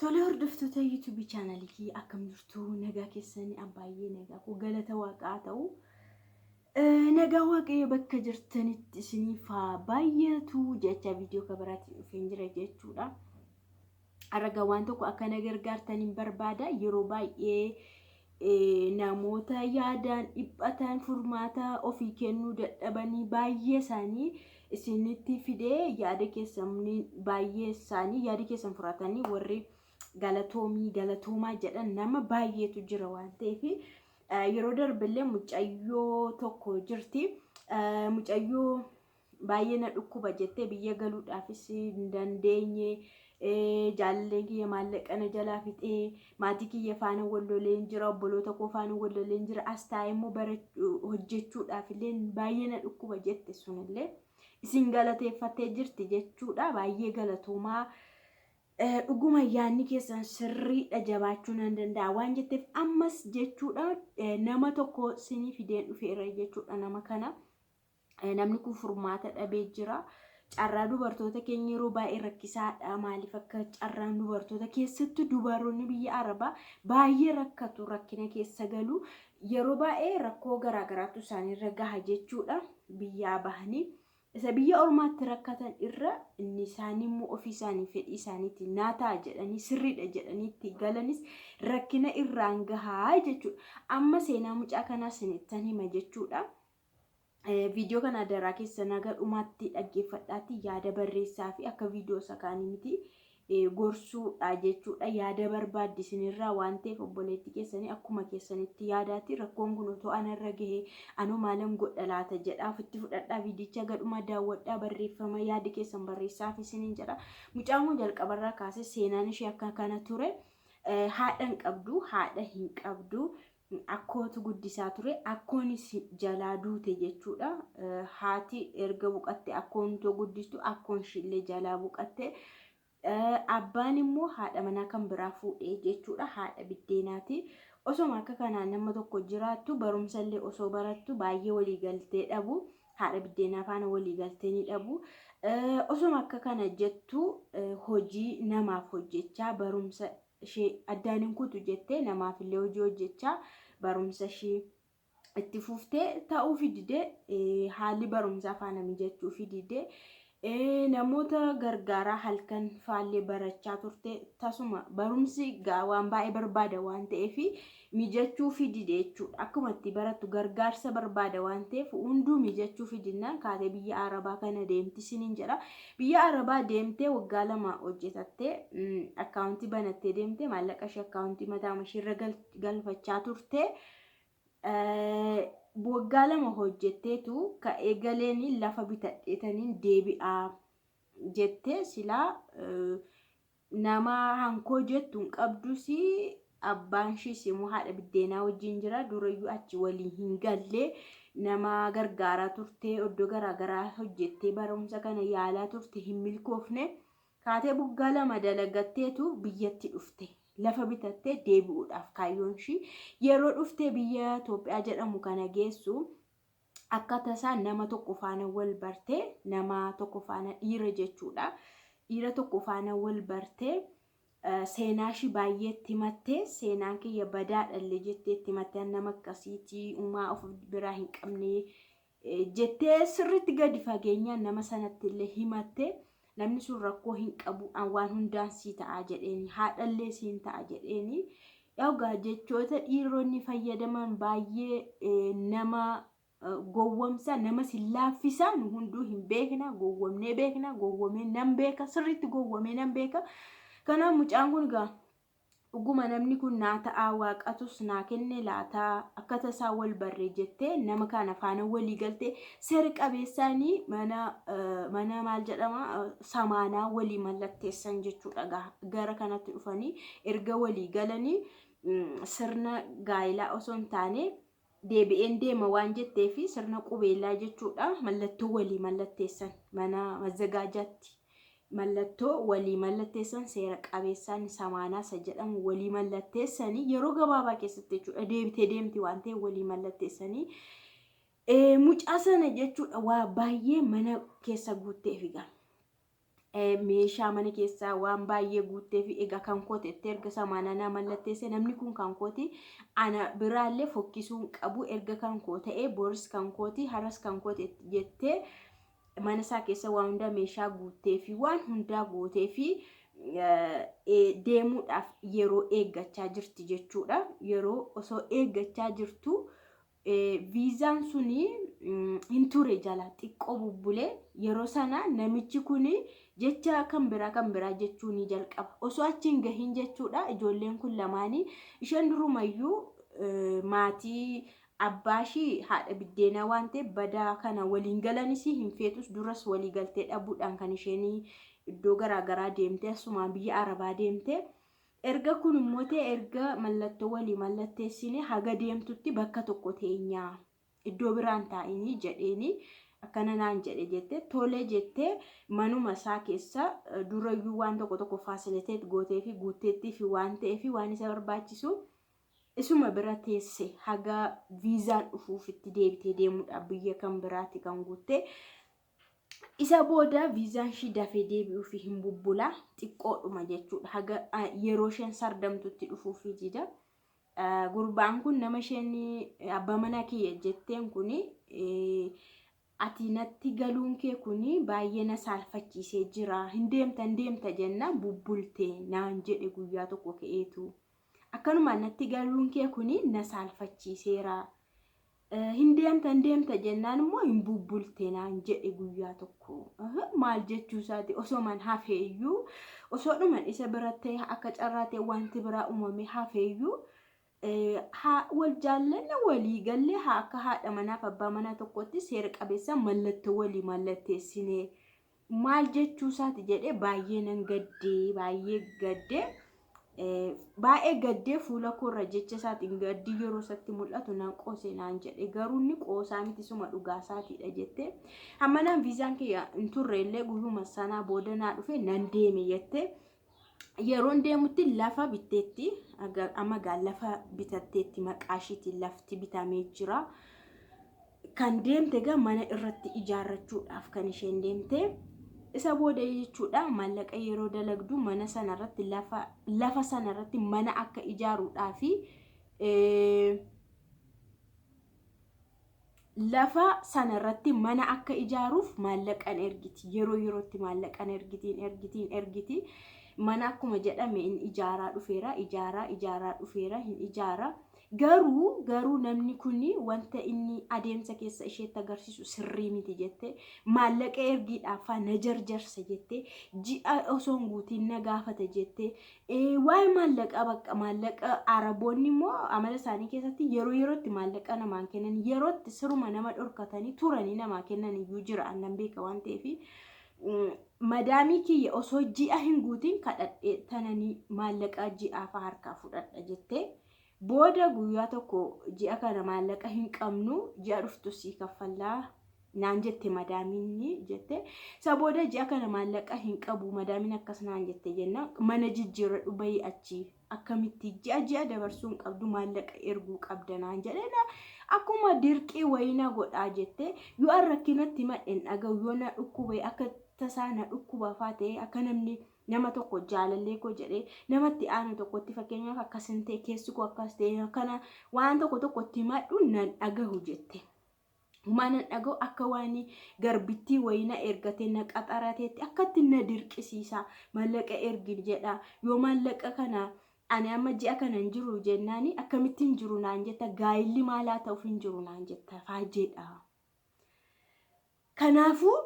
Tole hordoftoota YouTube channel kii akkam jirtu nagaa keessanii abbaayyee nagaa koo galata waaqaa ta'u. Nagaa waaqayyo bakka jirtanitti isiniif haa baay'atu jecha viidiyoo kabaraatiin dhufeen jira jechuudha. Arraga waan tokko akka na gargaartaniin barbaada yeroo baay'ee Namoota yaadaan dhiphatan, furmaata ofii kennuu dadhabanii baay'ee isaanii isinitti fidee yaada keessan baay'ee isaanii yaada keessan fudhatanii warri galatoomii galatoomaa jedhan nama baay'eetu jira waan ta'eef yeroo darbillee mucayyoo tokko jirti mucayyoo Baay'ee na dhukkuba jettee biyya galuudhaafis hin dandeenye. Jaalalleen kiyya maallaqa na jalaa fixee maatii kiyya faana wal loleen jira obboloota koo faana wal loleen jira as taa'ee immoo bara hojjechuudhaaf illee baay'ee na dhukkuba jette sunillee isin galateeffattee jirti jechuudha baay'ee galatoomaa dhuguma yaanni keessan sirriidha jabaachuu nan danda'a waan jetteef ammas jechuudha nama tokko sinii fideen dhufeera jechuudha nama kana. Namni kun furmaata dhabee jira. Carraa dubartoota keenya yeroo baay'ee rakkisaadha. Maaliif akka carraan dubartoota keessattuu dubaroonni biyya Arabaa baay'ee rakkatu rakkina keessa galu. Yeroo baay'ee rakkoo garaagaraatu isaaniirra gaha jechuudha. Biyyaa bahanii isa biyya ormaatti rakkatan irra inni isaanii immoo ofii isaanii fedhii isaaniitti naa ta'a jedhanii sirriidha jedhanii itti galanis rakkina irraan gahaa jechuudha. Amma seenaa mucaa kanaa sinittan hima jechuudha. Viidiyoo kana adaraa keessan haga dhumaatti dhaggeeffadhaatti yaada barreessaa fi akka viidiyoo isa kaanii miti gorsuudha jechuudha. Yaada barbaaddi isinirraa waan ta'eef obboleetti keessanii akkuma keessanitti yaadaatti rakkoon kun otoo anarra gahee anoo maalan godha laata jedhaa ofitti fudhadhaa viidicha gadhuma daawwadhaa barreeffama yaadi keessan barreessaa fi isiniin jedha. Mucaan kun jalqabarraa kaasee seenaan ishee akka kana ture. Haadha hin qabdu, haadha hin qabdu. Akkootu guddisaa ture. Akkoonis jalaa duute jechuudha. Haati erga buqatte akkoon utoo guddistu akkoon ishiillee jalaa buqatte. Abbaan immoo haadha manaa kan biraa fuudhe jechuudha. Haadha biddeenaati. Osoma akka kanaan nama tokko jiraattu barumsallee osoo barattu baay'ee walii galtee dhabu. Haadha biddeenaa faana walii galtee ni dhabu. Osoma akka kana jettu hojii namaaf hojjechaa barumsa ishee addaan hin kutu jettee namaafillee hojii hojjechaa barumsa ishee itti fuftee ta'uufi didee eh, haalli barumsaa faana mijachuufi didee eh, namoota gargaaraa halkan faallee barachaa turte tasuma barumsi gaa waan baay'ee barbaada waan ta'eefi mijachuufii dide jechuudha. Akkuma itti barattu gargaarsa barbaada waan ta'eef hunduu mijachuufii dinnaan kaatee biyya Arabaa kana deemti siniin jedha. Biyya Arabaa deemtee waggaa lama hojjetattee akkaawuntii banattee deemtee maallaqa ishee akkaawuntii mataa ishee irra galfachaa turte. Waggaa lama hojjetteetu ka'ee galeen lafa bitadheetaniin deebi'aa jettee silaa Namaa hankoo jettu hin qabdus abbaanshis yommuu haadha biddeenaa wajjin jira durayyuu achi walii hin galle nama gargaaraa turte iddoo garaagaraa hojjettee barumsa kana yaalaa turte hin milkoofne kaatee buggaa lama dalagatteetu biyyatti dhufte lafa bitattee deebi'uudhaaf kaayyoon ishii yeroo dhuftee biyya Itoophiyaa jedhamu kana geessu Akka tasaa nama tokko faana wal barte, nama tokko faana dhiira jechuudha. Dhiira tokko faana wal barte, seenaa ishii baay'ee itti himatte, seenaan kiyya badaadha illee jettee itti himatte, an nama akkasiiti, umaa of biraa hin qabne jettee sirriitti gadi fageenyaan nama sanatti illee himatte. Namni sun rakkoo hin qabu, an waan hundaan sii ta'a jedheeni, haadhallee siin ta'a jedheeni. Egaa jechoota dhiironni fayyadaman baay'ee eh, nama eh, gowwomsa, namas hin laaffisa, nu hunduu hin beekna, gowwomnee beekna, gowwomee nan beeka, sirriitti gowwomee nan beeka. Kanaaf mucaan kun egaa Dhuguma namni kun naa ta'aa Waaqatus naa kenne laata? Akka tasaa wal barre jettee nama kana faana walii galte seera qabeessaan mana mana maal jedhama samaanaa walii mallatteessan jechuudha gaha. Gara kanatti dhufanii erga walii galanii sirna gaa'ilaa osoo hin taane deebi'een deema waan jetteefi sirna qubeellaa jechuudha mallattoo walii mallatteessan mana mazzagaajaatti mallattoo walii mallatteessan seera qabeessaan samaanaa isa jedhamu walii mallatteessanii yeroo gabaabaa keessatti jechuudha deebitee deemti waan ta'e walii mallatteessanii mucaa sana jechuudha waa baay'ee mana keessa guuttee figaa. meeshaa mana keessaa waan baay'ee guuttee fi egaa kan kooti itti erga samaan anaa mallatteessee namni kun kan kooti ana biraallee fokkisuun qabu erga kan koo ta'ee boris kan kooti har'as kan kooti jettee mana isaa keessa waan hundaa meeshaa guuttee fi waan hundaa gootee fi deemuudhaaf yeroo eeggachaa jirti jechuudha. Yeroo osoo eeggachaa jirtu viizaan sun hin ture jala xiqqoo bubbulee yeroo sana namichi kun jecha kan biraa kan biraa jechuu ni jalqaba. Osoo achi hin gahin jechuudha ijoolleen kun lamaanii isheen durumayyuu maatii abbaa ishii haadha biddeenaa waan ta'eef badaa kana waliin galanis hin feetus duras walii galtee dhabuudhaan kan isheen iddoo garaagaraa deemtee asumaan biyya arabaa deemtee Erga kun immoo ta'e erga mallattoo walii mallatteessine haga deemtutti bakka tokko teenya iddoo biraan taa'inii jedheeni akkana naan jedhe jette tole jette manuma isaa keessa durayyuu waan tokko tokko faasiliiteet gootee fi guutteettii fi waan ta'ee fi waan isa barbaachisu isuma bira teesse haga viizaan dhufuuf itti deebitee deemuudhaaf biyya kan biraatti kan guutte Isa booda viizaan ishii dafee deebi'uufi hin bubbula xiqqoodhuma jechuudha haga yeroo isheen sardamtutti dhufuufi dida. Gurbaan kun nama isheen abbaa manaa kiyya jetteen kun ati natti galuun kee kun baay'ee na saalfachiisee jira hin deemta hin deemta jenna bubbulte naan jedhe guyyaa tokko ka'eetu akkanuma natti galuun kee kun na saalfachiiseera Hin deemta hin deemta jennaan immoo hin bubbulte naan jedhe guyyaa tokko. Maal jechuu isaati osoo man hafeeyyuu osoo dhuman isa bira ta'e akka carraa ta'e wanti biraa uumamee hafeeyyuu haa wal jaallanne walii galle haa akka haadha manaaf abbaa manaa tokkotti seera qabeessa mallattoo walii mallatteessinee maal jechuu isaati jedhee baay'ee nan gaddee baay'ee gaddee eh, baay'ee gaddee fuula koorra jecha isaatiin gaddii yeroo isatti mul'atu nan qoose naan jedhe garuu inni qoosaa miti suma dhugaa isaatiidha jette hammanaan viizaan kiyya hin turre illee guyyuma sanaa booda naa dhufe nan deeme jette yeroon deemutti lafa bitteetti amma gaa lafa bitatteetti maqaashiitiin lafti bitamee jira. Kan deemte gaa mana irratti ijaarrachuudhaaf kan isheen deemte. Isa booda jechuudha maallaqa yeroo dalagdu mana sana irratti lafa lafa sana irratti mana akka ijaaruudhaa fi lafa sana irratti mana akka ijaaruuf maallaqan ergiti yeroo yerootti maallaqan ergitiin ergitiin ergiti mana akkuma jedhame in ijaaraa dhufeera ijaaraa ijaaraa dhufeera hin ijaaraa garuu garuu namni kun wanta inni adeemsa keessa isheetti agarsiisu sirrii miti jette maallaqa ergiidhaafaa na jarjarsa jette ji'a osoo hin guutiin na gaafata jette Waa'ee maallaqaa bakka maallaqa araboonni immoo amala isaanii keessatti yeroo yerootti maallaqa namaan kennan yerootti siruma nama dhorkatanii turanii namaa kennan iyyuu jira annan beeka waan ta'eef madaamii kiyya osoo ji'a hin guutiin kadhadhee tananii maallaqa ji'aafa harkaa fudhadha jettee Booda guyyaa tokko ji'a kana maallaqa hin qabnu ji'a dhuftu sii kaffallaa naan jette madaamiin jette. Isa booda ji'a kana maallaqa hin qabu madaamiin akkas naan jette jenna mana jijjiirradhu bayii achi akkamitti ji'a ji'a dabarsuu hin qabdu maallaqa erguu qabda naan jedhena akkuma dirqii wayii na godhaa jette yoo an rakkinatti madhen dhaga'u yoo na dhukkube akka tasaa na dhukkuba faa ta'e akka namni nama tokko jaalallee koo jedhee nama itti aanu tokkotti fakkeenyaaf akkas hin ta'e keessi koo akkas ta'e akkana waan tokko tokko itti himadhu nan dhagahu jette. Humaa nan dhagahu akka waan garbittii wayii na ergatee na qaxarateetti akkatti na dirqisiisa maallaqa ergin jedha yoo maallaqa kana ani amma ji'a kana hin jiru jennaani akkamittiin jiru naan jetta gaa'illi maalaa ta'uuf hin jiru naan jetta faajjeedha. Kanaafuu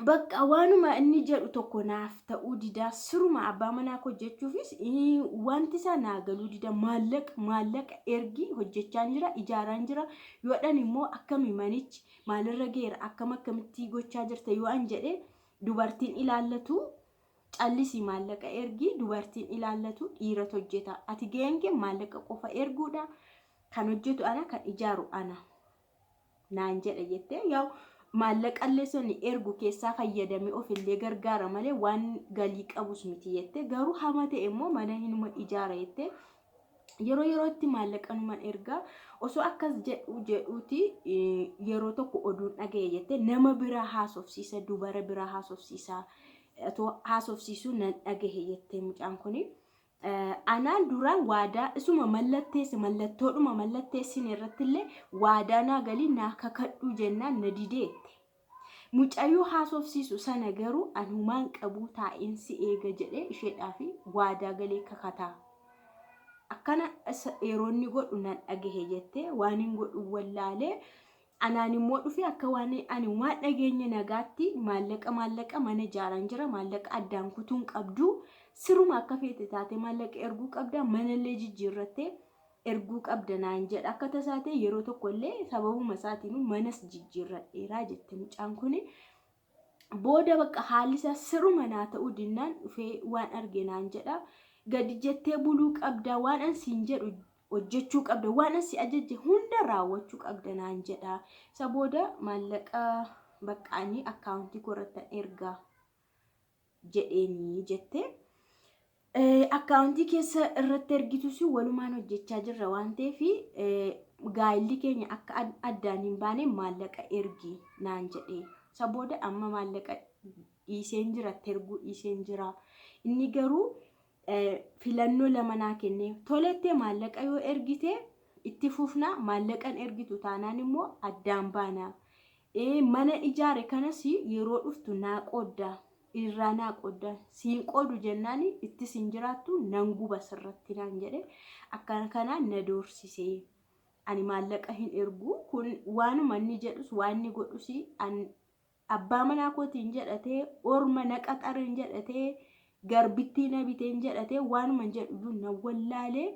bakka waanuma inni jedhu tokko naaf ta'uu didaa siruma abbaa manaa koo jechuufis wanti isaa naa galuu dida maallaqa maallaqa ergii hojjechaan jira ijaaraan jira yoo dhan immoo akkami manichi maalirra geera akkam akkamittii gochaa jirta yoo an jedhe dubartiin ilaallatu callisii maallaqa ergii dubartiin ilaallatu dhiirat hojjeta ati ga'een kee maallaqa qofa erguudha kan hojjetu ana kan ijaaru ana. naan jedha jettee yaa'u maallaqallee sonni ergu keessaa fayyadamee ofillee gargaara malee waan galii qabus miti jettee garuu hama ta'e immoo mana hinuma ijaara jettee yeroo yerootti maallaqa numan ergaa osoo akkas jedhu jedhuuti yeroo tokko oduun dhaga'e jettee nama biraa haasofsiisa dubara biraa haasofsiisa otoo haasofsiisuu nan dhagahe jettee mucaan kun Anaan dura waadaa isuma mallatteesse mallattoodhuma mallatteessine irrattillee waadaa naa galii naa kakadhuu jennaan na dideette. Mucayyoo haasofsiisu sana garuu an humaan qabuu taa'een si eega jedhee isheedhaaf waadaa galee kakataa. Akkana yeroonni godhu nan dhagahe jettee waanin godhu wallaalee Anaan immoo dhufe akka waan ani waan dhageenye nagaatti maallaqa maallaqa mana ijaaraan jira maallaqa addaan kutuun qabdu siruma akka feete taate maallaqa erguu qabda manallee jijjiirrattee erguu qabda naan jedha akka tasaatee yeroo tokkollee sababuma isaatiin manas jijjiirradheeraa jette mucaan kuni booda bakka haalli isaa siruma naa ta'uu dinnaan dhufee waan arge naan jedha gadi jettee buluu qabda waan an siin jedhu hojjechuu qabda waan an si ajajje hunda raawwachuu qabda naan jedha isa booda maallaqa bakka ani akkaawuntii koo irratti ergaa jedheeni jette. Akkaawuntii keessa irratti ergitus walumaan hojjechaa jirra waan ta'eef gaa'illi keenya akka addaan hin baane maallaqa ergi naan jedhe. Isa booda amma maallaqa dhiiseen jira, erguu dhiiseen jira. Inni garuu filannoo lama naa kennee tolettee maallaqa yoo ergite itti fufna maallaqan ergitu taanaan immoo addaan baana mana ijaare kanas yeroo dhuftu naa qoodda irraa naa qoodda siin qoodu jennaan itti siin jiraattu nan guba sirratti naan jedhe akkana kanaan na doorsise ani maallaqa hin ergu kun waanuma inni jedhus waan inni godhus Abbaa manaa kootiin jedhatee, orma na qaxareen jedhatee, garbittii na biteen jedhatee waanuman jedhuyyuu na wallaalee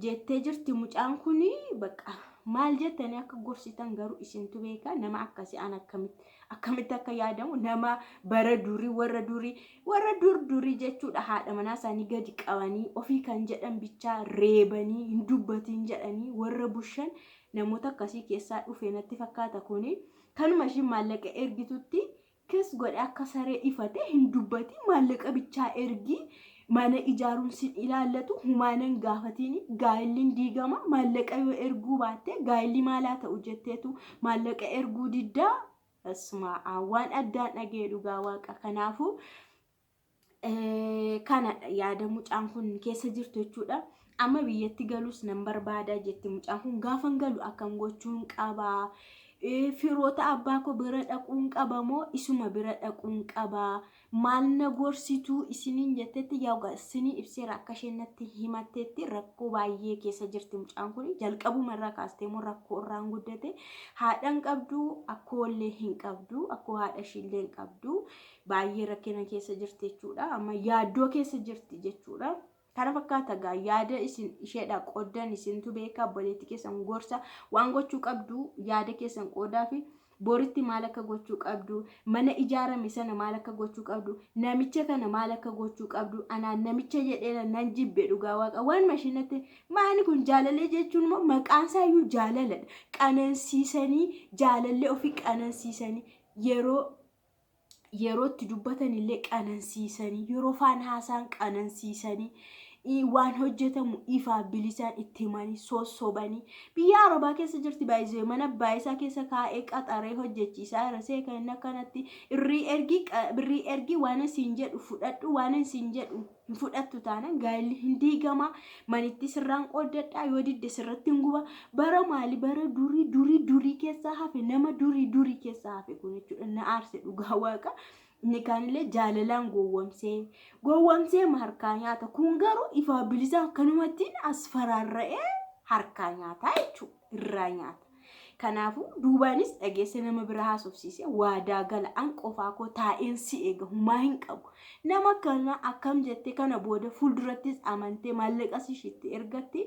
jettee jirti mucaan kun baqa maal jettanii akka gorsitan garuu isintu beeka nama akkasii an akkamitti akkamitti akka yaadamu nama bara durii warra durii warra dur durii jechuudha haadha manaa isaanii gadi qabanii ofii kan jedhan bichaa reebanii hin dubbatiin jedhanii warra bushan namoota akkasii keessaa dhufe natti fakkaata kuni Kanuma ishiin maallaqa ergitutti kiss godhe akka saree ifate hin dubbatiin maallaqa bichaa ergii mana ijaaruun sin ilaallatu humaanan gaafatiin gaa'illiin diigama maallaqa yoo erguu baatte gaa'illi maalaa ta'u jetteetu maallaqa erguu diddaa Asmaa waan addaan dhaga'e dhugaa waaqa kanaafuu kanadha yaada mucaan kun keessa jirtu jechuudha. Amma biyyatti galus nan barbaada jetti mucaan kun gaafan galu akkam gochuun qabaa. Firoota abbaa koo bira dhaquun qaba moo isuma bira dhaquun qaba maal na gorsituu isiniin jettetti yaa isinii ibseera akka isheen natti himattetti rakkoo baay'ee keessa jirti mucaan kun jalqabuma irraa kaastee moo rakkoo irraan guddate haadhan qabdu akkoo illee hin qabdu akkoo haadha ishii illee hin qabdu baay'ee rakkina keessa jirti jechuudha. Amma yaaddoo keessa jirti jechuudha. Kana fakkaata gaa yaada isin isheedha qoddan isintu beeka obboleetti keessan gorsa waan gochuu qabdu yaada keessan qoodaa fi boritti maal akka gochuu qabdu mana ijaarame sana maal akka gochuu qabdu namicha kana maal akka gochuu qabdu anaan namicha jedheera nan jibbe dhugaa waaqa waan mashinatti maani kun jaalalee jechuun immoo maqaan isaa iyyuu jaalaladha qanansiisanii jaalallee ofii qanansiisanii yeroo yeroo itti dubbatan illee qanansiisanii yeroo faan haasaan qanansiisanii i- waan hojjetamu ifaa bilisaan itti himanii sossobanii biyya arabaa keessa jirti baay'isee mana baay'isaa keessa kaa'ee qaxaree hojjechiisaa irra see kan inni akkanatti irrii ergii qa- birrii ergii waan siin jedhu fudhadhu waan siin jedhu hin fudhattu taanaan gaa'elli hin diigama manitti sirraan qooddadha yoo didde sirratti hin guba bara maali bara durii durii durii keessaa hafe nama durii durii keessaa hafe kun jechuudha na aarse dhugaa waaqa inni kaanillee jaalalaan gowwamsee gowwamsee ma harkaa nyaata kun garuu ifaa bilisaan kanumattiin as faraarra'ee harkaa nyaataa jechuudha. irraa nyaata. Kanaafuu duubaanis dhageessee nama bira haasofsiisee waadaa gala an qofaa koo taa'een si eega humaa hin qabu. Nama akkana akkam jettee kana booda fuuldurattis amantee maallaqas ishiitti ergattee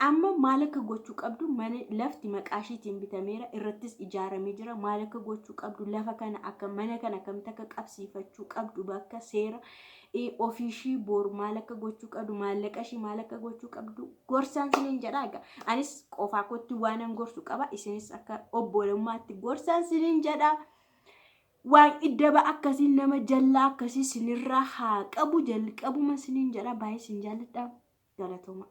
amma maal akka gochuu qabdu mana lafti maqaa ishiitiin bitameera irrattis ijaaramee jira maal akka gochuu qabdu lafa kana akka mana kana akkamitti akka qabsiifachuu qabdu bakka seera ofii ishii boor maal akka gochuu qabdu maallaqa ishii maal akka gochuu qabdu gorsaan sinin jedha egaa anis qofaa kootti waanan gorsu qaba isinis akka obbolummaatti gorsaan sinin jedha waan iddaba akkasii nama jallaa akkasii sinirraa haa qabu jalqabuma sinin jedha baay'ee sin jaalladha galatoomaa.